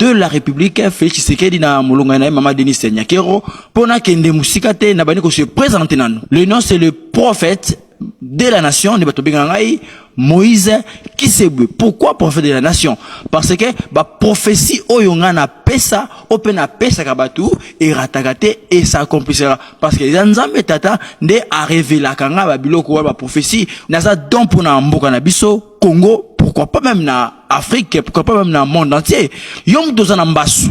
de la République Félix Tshisekedi na molonga na Mama Denise Nyakero pona kende musika te na bani ko se présenter nanu. Le nom c'est le prophète de la nation ne bato benga ngai Moïse Kisebwe. Pourquoi prophète de la nation? Parce que ba prophétie oyo nga na pesa, ope na pesa ka bato erataka te et ça accomplissera parce que eza nzambe tata nde arevelaka ngai babiloko wana baprophesie naza don mpo na mboka na biso congo pourquoi pas même na afrique pourquoi pas même na monde entier yo moto oza na mbasu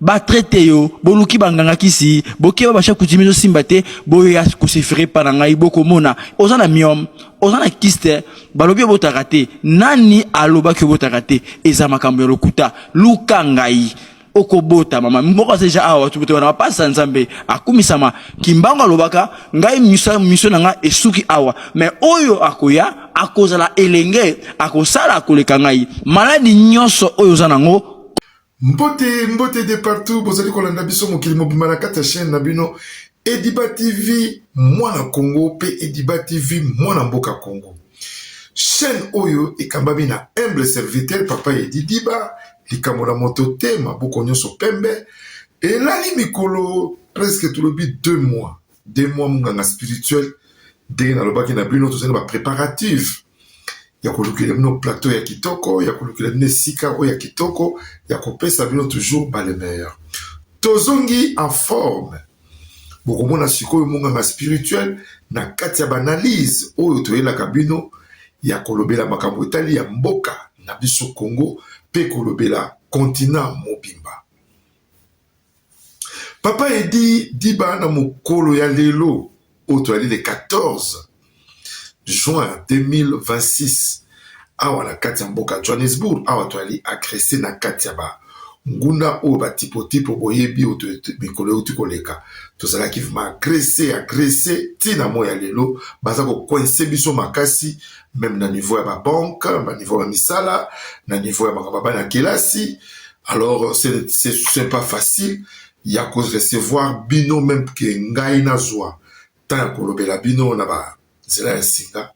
batraite yo boluki banganga kisi bokeba basha kutimi ezosimba te boya kosefere epa na ngai bokomona oza na miome oza na kiste balobi obotaka te nani alobaki obotaka te eza makambo ya lokuta luka ngai okobota mama moko aza deja awa tukutu wana bapasi ya nzambe akumisama kimbangu alobaka ngai miso miso na ngai esuki awa me oyo akoya akozala elenge akosala akoleka ngai maladi nyonso oyo oza nango mbote mbote de partout bozali kolanda biso mokili mobimba na kati ya chaîne na bino ediba tv mwana congo mpe ediba tv mwana mboka congo chaîne oyo ekambami na humble serviteur papa edi diba likambo na moto te maboko nyonso pembe elali mikolo presque tolobi deux mois deux mois monganga spirituel ndenge nalobaki na bino tozali na bapréparative ya kolukela bino plateau ya kitoko ya kolukela bino esika oyo ya kitoko ya kopesa bino toujours bale meilleur tozongi en forme Bokomona sikoyo monganga spirituel na kati ya banalyse oyo toyelaka bino ya kolobela makambo etali ya mboka na biso Congo mpe kolobela kontina mobimba. Papa Edi Diba na mokolo ya lelo oyo tozali le 14 juin 2026 awa na kati ya mboka Johannesburg, awa toali agrese na kati ya ba nguna oyo batipotipo boyebi oyo mikolo euti koleka, tozalaki vrema agrese agrese ti na moi ya lelo baza kokoinse biso makasi meme na niveau ya babanke, na niveau ya misala, na niveau ya makambo ya bana kelasi. Alors c'est pas facile ya ko recevoir bino meme que ngai nazua temps ya kolobela bino na ba nzela ya singa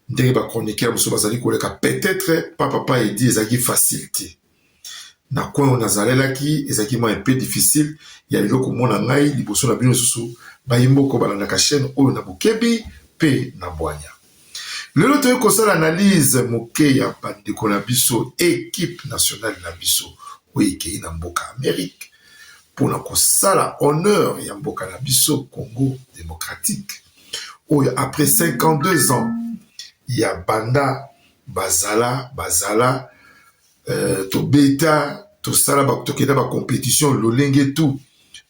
ndenge ba chroniqueurs mosusu bazali koleka peut-être pa papa edi ezalaki facile te na coin oyo nazalelaki ezalaki mwa mpe difficile ya lelo komona ngai liboso na bino lisusu bayi mboko balandaka chaîne oyo na bokebi mpe na bwanya lelo toyei kosala analyse moke ya bandeko na biso ekipe nationale na biso oyo ekei na mboka amerike mpo na kosala honneur ya mboka na biso congo démocratique oyo après 52 ans ya banda bazala bazala euh, tobeta tosala tokenda bacompétition lolenge tout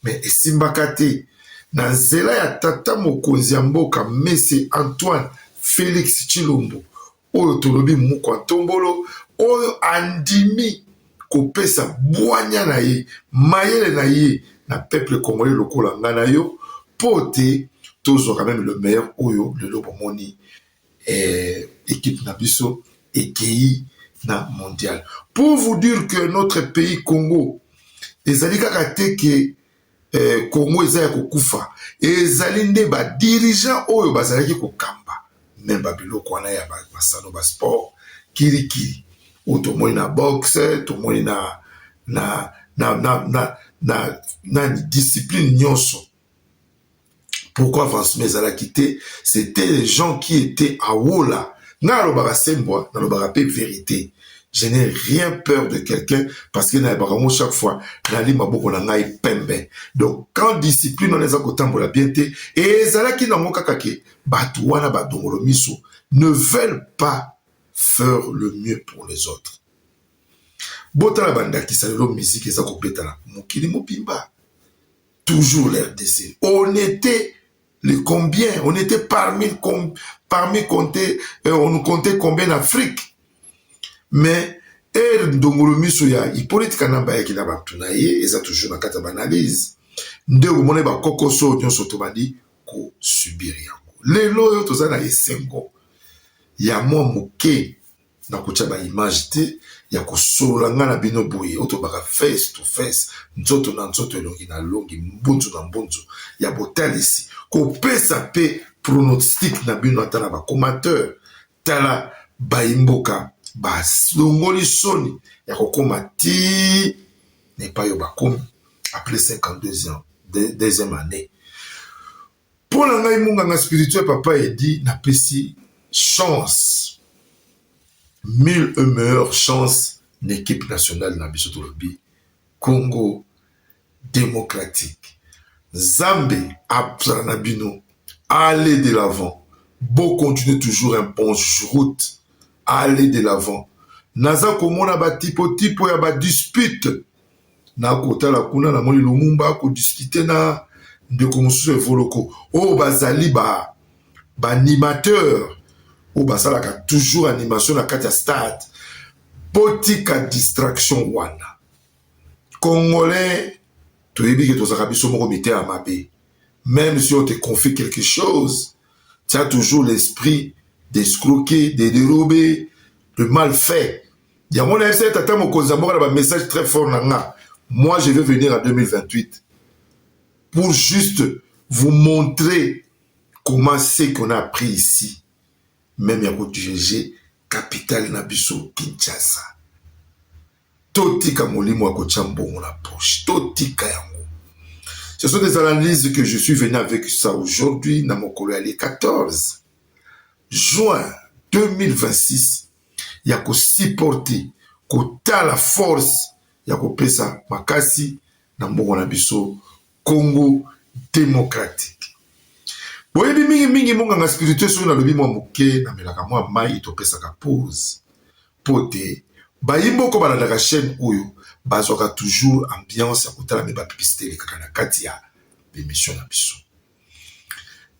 mais esimbaka te na nzela ya tata mokonzi ya mboka mese antoine félix tshilombo oyo tolobi mukwa ntombolo oyo andimi kopesa bwanya na ye mayele na ye na peuple congolais lokola ngai na yo mpo te tozwaka meme le meilleur oyo lelo bomoni Eh, equipe na biso ekeyi na mondial. Pour vous dire que notre pays Congo ezali kaka te ke eh, Congo eza ya kokufa, ezali nde ba dirigeants oyo bazalaki kokamba me babiloko wana ya masano ba sport kirikiri oyo tomoni na boxe, tomoni na na na na na, na, na discipline nyonso pourquoi avancement ezalaki te c'était les gens qui étaient à wola nga alobaka sembwa nalobaka mpe verité je n'ai rien peur de quelqu'un parce que nayebaka yango chaque fois nali maboko na ngai pembe donc quand discipline wana eza kotambola bien te e ezalaki nango kaka ke bato wana badongolo miso ne veulent pas faire le mieux pour les autres botala bandakisa lelo miziki eza kobetana mokili mobimba Toujours la RDC. On était les combien On était parmi, com, parmi compter, euh, on comptait combien d'Afrique Mais, er ndongolo miso ya Hippolyte Kanamba yaki na bato na ye eza toujours na kati ya banalyse nde okomona bakokoso nyonso tobandi kosubir yango lelo oyo toza na esengo ya mwa moke nakotya ba image te ya kosolola ngai na bino boye oyo tolobaka face to face nzoto na nzoto elongi na elongi mbunzu na mbunzu ya botalisi kopesa mpe pronostic na bino ata na bacomateur tala bayimboka balongoli soni ya kokoma ti na epai oyo bakomi après 52 ans deuxième année Mpo na ngai monganga spirituel papa edi napesi chance mille e meilleure chance na équipe nationale na biso tolobi congo démocratique nzambe azala na bino aller de l'avant bo continuer toujours un bon route aller de l'avant naza komona batipotipo ya badispute na kotala kuna na moni lumumba kodiskite na ndeko mosusu evoloko oyo bazali ba baanimateur oyo basalaka toujours animation na kati ya stade botika distraction wana congolais toyebi ke tozalaka biso moko mitema mabe même si on te confie quelque chose tu as toujours l'esprit d'escroquer de dérober de mal fait yango nayebisa ye tata mokonzi ya mboka na bamessage très fort na nga moi je vais venir en 2028 pour juste vous montrer comment ce qu'on a appris ici même ya kodirige capitale na biso kinshasa totika molimo ya kotya mbongo na poche totika yango ce sont des analyses que je suis venu avec ça aujourd'hui na mokolo ya le 14 juin 2026 ya ko supporter kotala force ya kopesa makasi na mboka na biso Congo democratique. Boyebi mingi mingi monganga spirituel soki nalobi mwa moke na melaka mwa mai topesaka pause mpo te bayi moko balandaka chaîne oyo bazwaka toujours ambiance ya kotala mpe bapibisite elekaka na kati ya bemission na biso.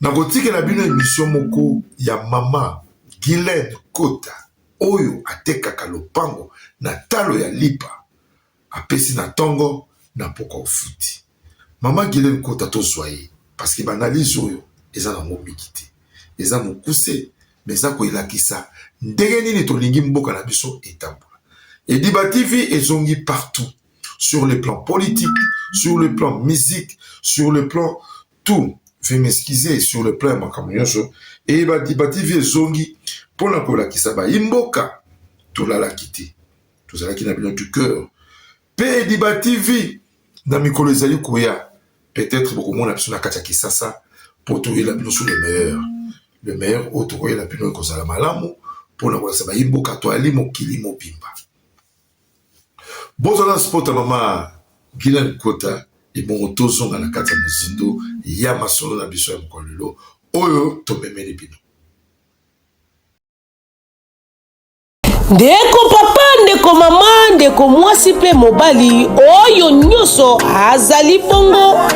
nakotikela bino emisio moko ya mama gilene kota oyo atekaka lopango na talo ya lipa apesi na ntongo na mpoka ofuti mama gilene kota tozwa ye parceke baanalyse oyo eza na yango mingi te eza mokuse me eza koelakisa ndenge nini tolingi mboka na biso etambola ediba tv ezongi partout sur le plan politique, sur le plan musique, sur le plan tout. Veuillez m'excuser sur le plan makambo nyonso. Et ba Diba TV ezongi mpo na kolakisa bayi mboka tolalaki te. Tozalaki na bino du cœur. Mpe Diba TV na mikolo ezali koya peut-être bokomona biso na kati ya Kisasa mpo toyela bino sur le meilleur. Le meilleur oyo tokoyela bino ekozala malamu mpo na kolakisa bayi mboka toyali mokili mobimba. Boza na sport ya mama Gina Nkota ebongo tozonga na kati ya mozindo ya masolo na biso ya mokolo lelo oyo tomemeli bino. Ndeko papa, ndeko mama, ndeko mwasi mpe mobali, oyo nyonso azali bongo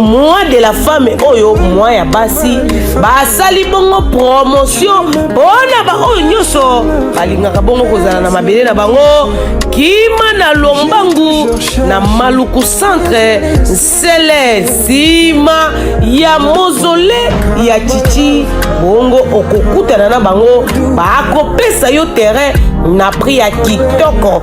moi de la femme oyo moi ya basi basali bongo promotion mpona baoyo nyonso balingaka bongo kozala na mabele na bango kima na lombangu na maluku centre nsele nsima ya mozole ya chichi bongo okokutana na bango bakopesa yo terrain na prix ya kitoko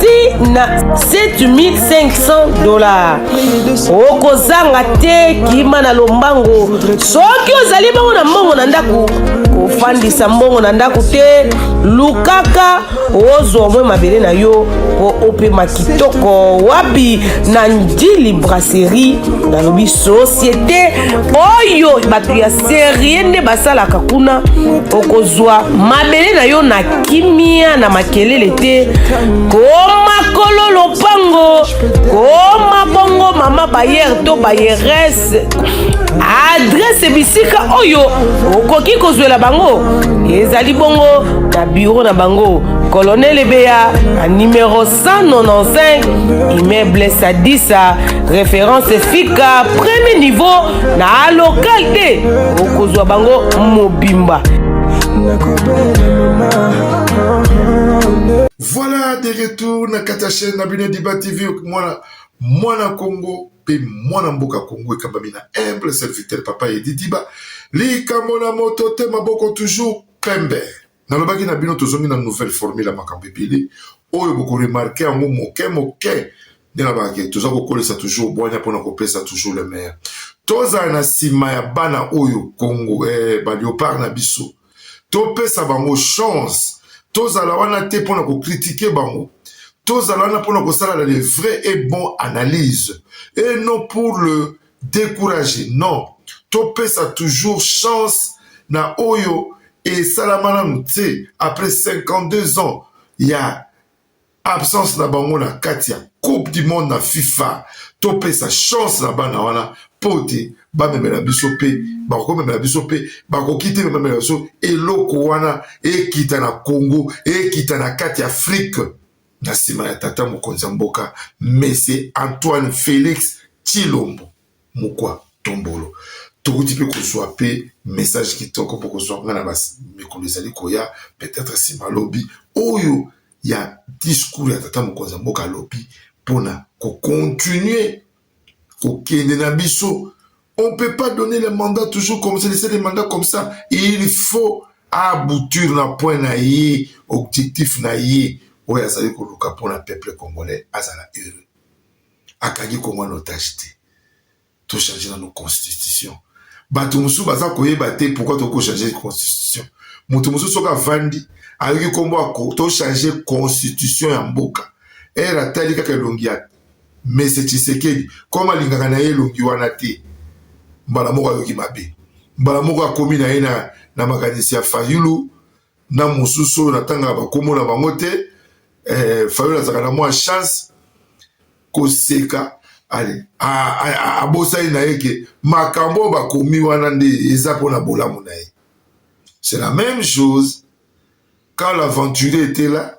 ti na 7500 dollars okozanga te kima na lombango soki ozali bongo na mbongo na ndako kofandisa mbongo na ndako te lukaka ozwa omwe mabele na yo mpo opema kitoko wapi na ndili brasserie nalobi societe oyo bato ya serie nde basalaka kuna okozwa mabele na yo na kimia na makelele te koma kolo lopango koma bongo mama bayere to bayerese adrese bisika oyo okoki kozwela bango ezali bongo na biro na bango kolonel ebeya na numero 195 immeuble sadisa référence fika premier niveau na local te okozwa bango mobimba voilà de retour na kati ya chaîne na bino diba tv mwana mwana congo mpe mwana mboka congo ekambami na humble serviteur papa edi diba likambo na moto te maboko toujours pembe Nalobaki na bino tozongi na nouvelle formule ya makambo ebele oyo bokoremarke yango moke moke nde nalobaka ke toza kokolisa toujours bwanya mpona kopesa toujours le meilleur tozala na nsima ya bana oyo congo eh, baleopard na biso topesa bango chance tozala wana te mpona kokritike bango tozala wana mpona kosalala le vrai et bon analyse et non pour le decourager non topesa toujours chance na oyo esalama nanu te après 52 ans ya absence na bango na kati ya coupe du monde na fifa topesa chance na bana wana mpo te bamemela biso mpe bakomemela biso mpe bakoki te bamemela biso eloko wana ekita na congo ekita na kati ya afrike na nsima ya tata mokonzi ya mboka mese Antoine Felix Tshilombo Mukwa Tombolo. Tokuti mpe kozwa mpe message kitoko mpo kozwa ngai na mikolo ezali koya peut-être nsima lobi oyo ya discours ya tata mokonzi ya mboka alobi mpo na kocontinue kokende na biso on peut pas donner le mandat toujours comme ça laisser le mandat comme ça il faut aboutir na point na ye objectif na ye oyo azali koluka mpo na peuple congolais azala heureux akangi kongo na otage te tochange nano constitution bato mosusu baza koyeba te pourkui tokoki kochange constitution moto mosusu soki avandi ayoki nkombo ako tochange constitution ya mboka ere atali kaka elongi ya mais c'est Tshisekedi comme alingaka na ye elongi wana te mbala moko ayoki mabe mbala moko akomi na ye na, na makanisi ya Fayulu na mosusu oyo natangaka bakombo na bango te eh, Fayulu azalaka na mwa chance koseka ale abosani na ye ke makambo oyo bakomi wana nde eza mpo na bolamu na ye c'est la même chose quand l'aventurier était là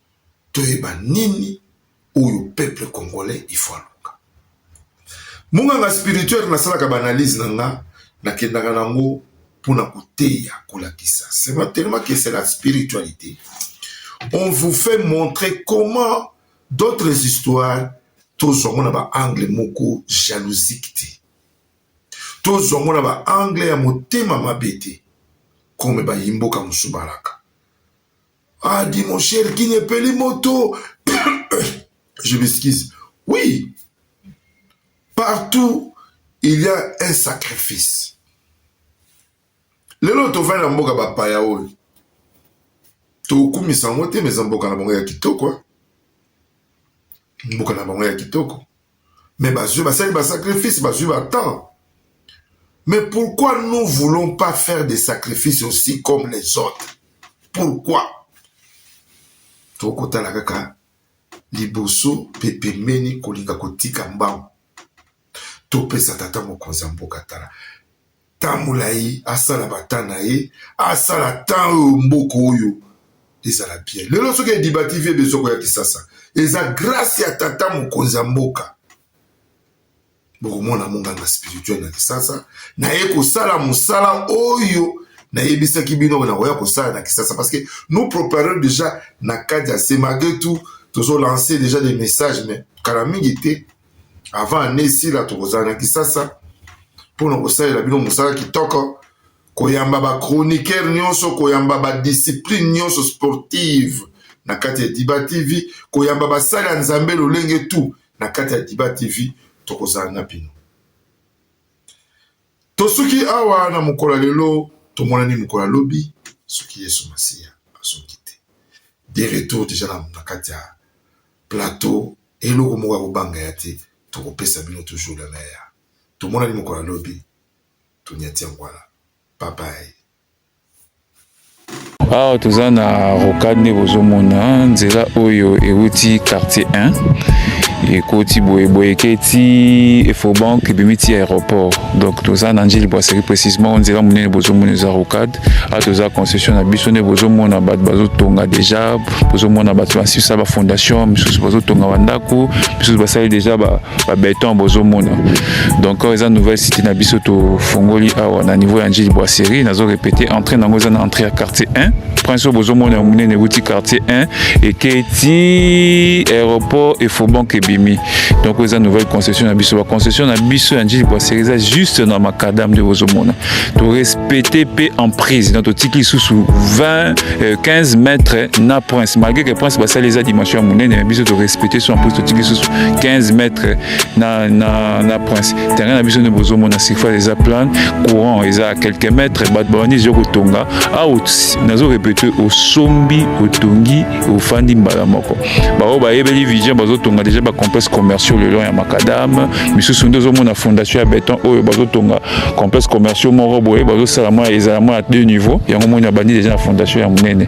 toyeba nini oyo peuple congolais il faut aluka munganga spirituel nasalaka baanalyse na nga nakendaka nango mpo na koteya kolakisa sema telema que c'est la spiritualité on vous fait montrer comment d'autres histoires tozwa ngo na baangle moko jalousique te tozwa ngo na baangle ya motema mabe te kome bayimboka mosubalaka Ah, dit mon cher, qui n'est pas les motos. Je m'excuse. Oui, partout, il y a un sacrifice. lelo tovandi na mboka bapaya oyo tokumisa yango te meza mboka na bango ya kitoko mboka na bango ya kitoko mais bazwi basali basacrifice bazwi batemp mais pourquoi nous voulons pas faire des sacrifices aussi comme les autres pourquoi tokotala kaka liboso mpe pembeni kolinga kotika mbangu topesa tata mokonzi ya mboka tala temps molai asala bata na ye asala temps oyo mboka oyo ezala bien lelo soki ediba tv ebezo koya kisasa eza grâce ya tata mokonzi ya mboka bokomona monganga spirituel na kisasa naye kosala mosala oyo nayebisaki bino nakoya kosala na kisasa parce que nous préparons déjà na kati ya semagetu tozolancer déjà des messages mais kala mingi te avant annee esila tokozala na kisasa mpo na kosalela bino mosala kitoko koyamba bachroniqueur nyonso koyamba badiscipline nyonso sportive na kati ya diba tv koyamba basali ya nzambe lolenge tu na kati ya diba tv tokozala na bino tosuki awa na mokolo ya lelo tomonani mokolo ya lobi soki yesu masiya asoki te de retour deja na kati ya plateau Eloko moko ya kobanga ya te toko pesa bino toujours le meilleur tomonani mokolo ya lobi tonyati yango wana bye bye. Awa toza na rocade nde bozomona nzela oyo ewuti quartier 1 ekoti boye boye eketi efobank ebimi ti aéroport donc toza na njili bwaseri précisement nzela monene bozomona eza rocade awa toza concession na biso nde bozomona bato bazotonga deja bozomona bato basisa bafondation misusu bazotonga bandako misusu basali deja babeton bozomona donc awa eza nouvelle cité na biso tofongoli awa na niveau ya njili boiserie nazo répété entrée nango eza na entrée ya quartier 1 prince oyo bozomona ya monene euti quartier 1 ekei ti aéroport efobank ebimi donc oyo eza nouvelle concession na biso baconcession na biso ya njili boiserie eza juste na macadam nde bozomona To respecter pe en prise na totiki lisusu 20 euh, 15 mètres na prince malgré que prince basali eza dimension ya monene mais biso to respecter so en prise totiki lisusu 15 mètres na, na, na prince terrain na biso nde bozomona surface eza plane courant eza à quelques mètres bato babandi ezo kotonga out nazo répéter osombi otongi ofandi mbala moko baoyo bayebeli vision bazotonga deja bacomplexe commerciaux le long ya macadame misusu nde ozomona fondation ya beton oyo bazotonga complexe commerciaux moko boye bazosala mwa ezala mwa ya deux niveau yango moni abandi deja na fondation ya monene